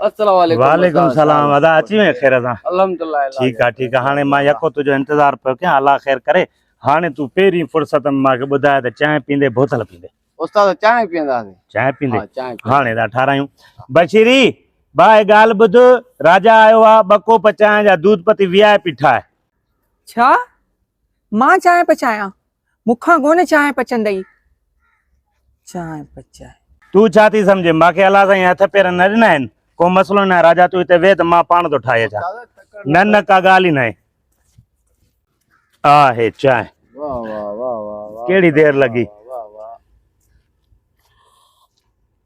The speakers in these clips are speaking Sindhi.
السلام عليڪم وعليڪم السلام ادا اچي وين خير سان الحمدلله ٺيڪ آ ٺيڪ آ هاڻي مان يڪو تجو انتظار پيو ڪيان الله خير ڪري هاڻي تو پهرين فرصت ۾ ماکي ٻڌاء ته چانهه پيندي بوتل پيندي استاد چانهه پيندا چانهه پيندي هاڻي دا ٺارايون بشيري بھائي ڳالھ ٻڌ راجا آيو آ ٻه ڪوپ چانهه جا دودھ پتي وي آء پي ٺاهه ڇا مان چانهه پچايان، مون کان ڪونه چانهه پچندئي. چانهه پچائي. تون ڇا ٿي سمجهين؟ مان کي الله سائين هٿ پير نه ڏنا آهن. ڪو مسئلو ئي ناهي. راجا تون هتي ويهه ته مان پاڻ ٿو ٺاهي اچان. نه نه ڪا ڳالهه ئي ناهي. آ هي چانهه. ڪهڙي دير لڳي.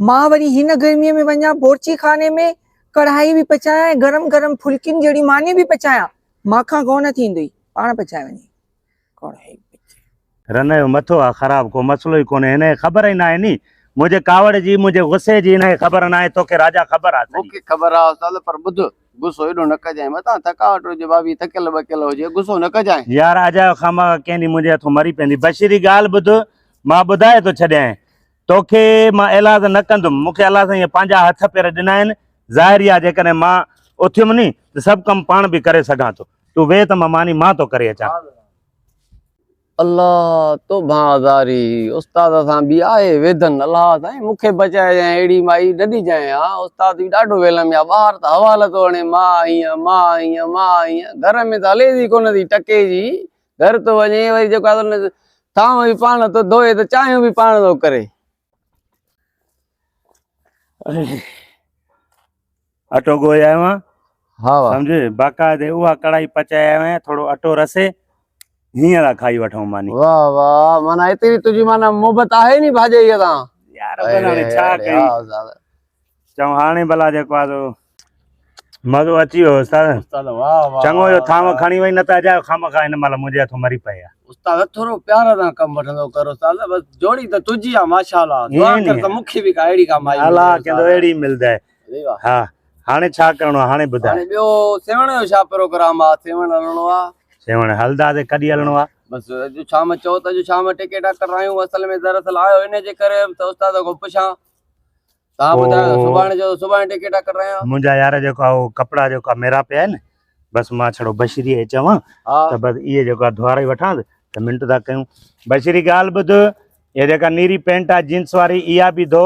مان وري هن گرميء ۾ وڃان بورچي خاني ۾ ڪڙهائي به پچايان ۽ گرم گرم ڦلڪين جهڙي ماني به پچايان. مان کان ڪو نه ٿيندئي، پاڻ پچائي وڃي. ڪڙهائي پچي. رنه جو مٿو آ خراب، ڪو مسئلو ئي ڪونهي. هن کي خبر ئي ناهي ني، منهنجي ڪاوڙ جي، منهنجي غصي جي هن کي خبر ناهي. توکي راجا خبر آ سڄي. مون کي خبر آ استاد، پر ٻڌ، غصو ايڏو نه ڪجانء. متان ٿڪاوٽ هجي، ڀاڀي ٿڪيل ٻڪيل هجي، غصو نه ڪجانء. يار، اجايو خامخا ڪنهن ڏينهن منهنجي هٿون مري پوندي. بشير جي ڳالهه ٻڌ، مان ٻڌائي ٿو ڇڏيانء. توکي مان ايلاز نه ڪندم. مون کي الله سائينء پنهنجا هٿ پير ڏنا آهن. ظاهر ئي آهي جيڪڏهن مان اٿيم ني ته سڀ ڪم پاڻ به ڪري سگهان ٿو. تون ويهه ته مان ماني مان ٿو ڪري اچان. الله تو ڀان هزاري استاد سان به آهي ويڌن. الله سائين مون کي بچائجانء اهڙي مائي نه ڏجانء ها. استاد به ڏاڍو ويلم يا ٻاهر ته حوال ٿو هڻي، ماء هينء ماء هينء ماء هينء گهر ۾ ته هليس ئي ڪونه ٿي ٽڪي جي گهر ٿو وڃي وري جيڪو ٿانو به پاڻ ٿو ڌوئي ته چانهيون به پاڻ ٿو ڪري اٽو ڳوهي آيو آهيان ها سمجھي باقاعده اها ڪڙائي پچائي آيو آهيان ٿورو اٽو رسي هيئن لا کائي وٺون ماني واه واه مانا ايتري تنهنجي مانا محبت آهي ني ڀاڄي سان يار بناڻي ڇا ڪيون چئون هاڻي ڀلا جيڪو آ سو مزو اچي ويو استاد استاد واھ واھ چڱو جو ٿانو کڻي وئي نه ته اجايو خامخا هن مهل منهنجي هٿ مري پئي آ استاد ٿورو پيار سان ڪم وٺندو ڪر استاد بس جوڙي ته تجي آ ماشاءالله دعا ڪر ته مونکي به ڪا اهڙي ڪا مائي الله ڪندو اهڙي ملدي ها هاڻي ڇا ڪرڻو آ هاڻي ٻڌاء هاڻي ٻيو سيوهڻ جو ڇا پروگرام آ سيوهڻ هلڻو آ سيوهڻ هلدا سي ڪڏي هلڻو آ بس اڄ شام چئو ته اڄ شام ٽڪيٽا ڪرايون اصل ۾ دراصل آيو ان جي ڪري هيم ته استاد کان پڇان تان ٻڌايو ته سڀاڻي جو سڀاڻي ٽڪيٽا ڪڍرايان. منهنجا يار جيڪو آ اهو ڪپڙا جيڪو آ ميرا پيا آهن بس مان ڇڙو بشريء کي چوان ته بس اهي جيڪو آ ڌواري وٺانس ته منٽ ٿا ڪيون بشري ڳالهه ٻڌ اها جيڪا نيري پينٽ آ جينس واري اها به ڌو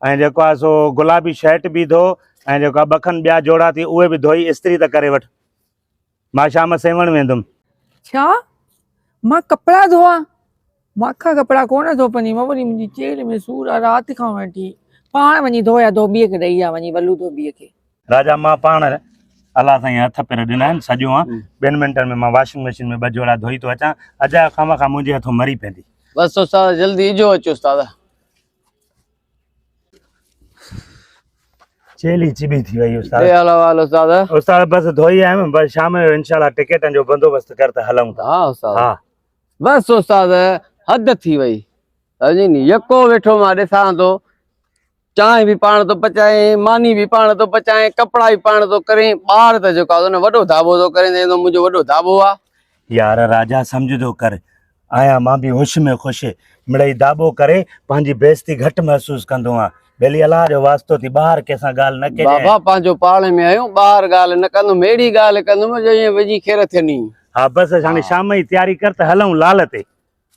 ۽ جيڪو آ سو گلابي شرٽ به ڌو ۽ جيڪو آ ٻه کن ٻيا جوڙا ٿي اهي به ڌوئي استري ته ڪري وٺ. مان شام سيوهڻ ويندم. ڇا؟ مان ڪپڙا ڌوئان؟ مان ڪا ڪپڙا ڪونه ڌوپنديم، وري منهنجي چيلهه ۾ سور آ، رات کان وٺي پاڻ وڃي ڌويا، ڌوٻيء کي ڏئي آ، وڃي ولو ڌوٻيء کي. راجا مان پاڻ الله سائين هٿ پير ڏنا آهن، سڄو آن، ٻن منٽن ۾ مان واشنگ مشين ۾ ٻه جوڙا ڌوئي ٿو اچان، اجايو خامخا منهنجي هٿون مري پيندي. بس استاد جلدي اجهو اچ استاد. چيلي چبي ٿي وئي استاد اي حال حال استاد استاد بس ڌوئي آيم بس شام جو ان شاء الله ٽڪيٽن جو بندوبست ڪر ته هلون ٿا ها استاد ها بس استاد حد ٿي وئي سمجھي ني يڪو ويٺو ما ڏسان ٿو چانهه به پاڻ ٿو پچائين ماني به پاڻ ٿو پچائين ڪپڙا به پاڻ ٿو ڪرين ٻار ته جيڪو آهي نه وڏو ڌاٻو ٿو ڪرين ته منهنجو وڏو ڌاٻو آهي يار راجا سمجھ ٿو ڪر آهيان، مان به هوش ۾ خوش مڙئي داٻو ڪري پنهنجي بيعزتي گهٽ محسوس ڪندو هان. ٻيلي الله جو واسطو ٿي ٻاهر ڪنهن سان ڳالهه نه ڪجانء. بابا پنهنجو پاڙي ۾ آهيون، ٻاهر ڳالهه نه ڪندم، اهڙي ڳالهه ڪندم جو ائين ويجهي کير ٿيني. ها بس هاڻي شام جي تياري ڪر ته هلئون لال تي.